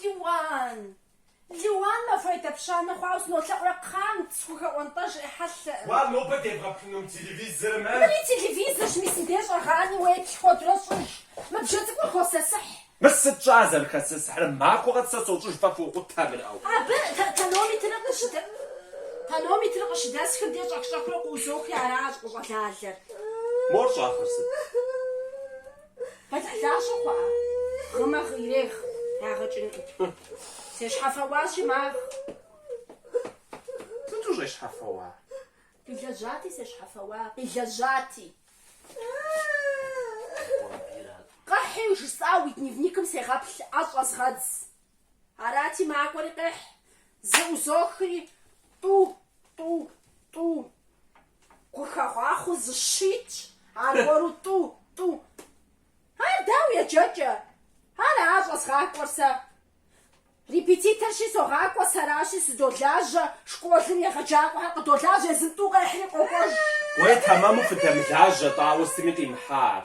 Лиуан! Лиуан махуэ едапщанэ хъуауэ сынолъэӏурэ кхъант, схухэӏуэнтӏэж ӏехьэлъэ. Уа нобэ дебгъэплъынум телевизорым, э? Мыри телевизорщ, мис мыбдеж щӏэгъани уеплъ куэдрэ щӏыж. Мы бжэ цӏыкӏур хосысыхь. Мыр сыт щӏа зэрыхэсысыхьрэ? Махуэ къэс сэ сощӏыж фэ фокъутэ абы, ау. Абы тонометрыр къыщыдэ... Тонометрыр къыщыдэсхыр де щӏэх-щӏэхыурэ къыӏузохри аращ къыщӏэлалэр. Мор щӏахъуэр сыт? Къетхьлащи хъуа? Гъымэ гъы ирегъ, ягъэ кӏынкъым. Сещхьэфэуащи, магъ. Сыт ущӏещхьэфэуар? Къилэжьати, сещхьэфэуа, къилэжьати. Къэхьи, жысӏа уи дневникым сегъэплъ, ӏэ щӏэзгъэдз. Арати, макӏуэри къехь, зэӏузохри, тӏу, тӏу, тӏу. Гухэгъахъуэу зы щы итщ, аргуэру тӏу, тӏу. Ар дауэ еджэкӏэ? Ара щӏэзгъакӏуэр сэ? Репетиторщи согъакӏуэ, сэращи сыдолажьэ, школым егъэджакӏуэхэр къыдолажьэ, езым тӏу къехьри къокӏуэж. Уей, тэмэму фыдэмылажьэ, дауэ сытми къимыхьа ар.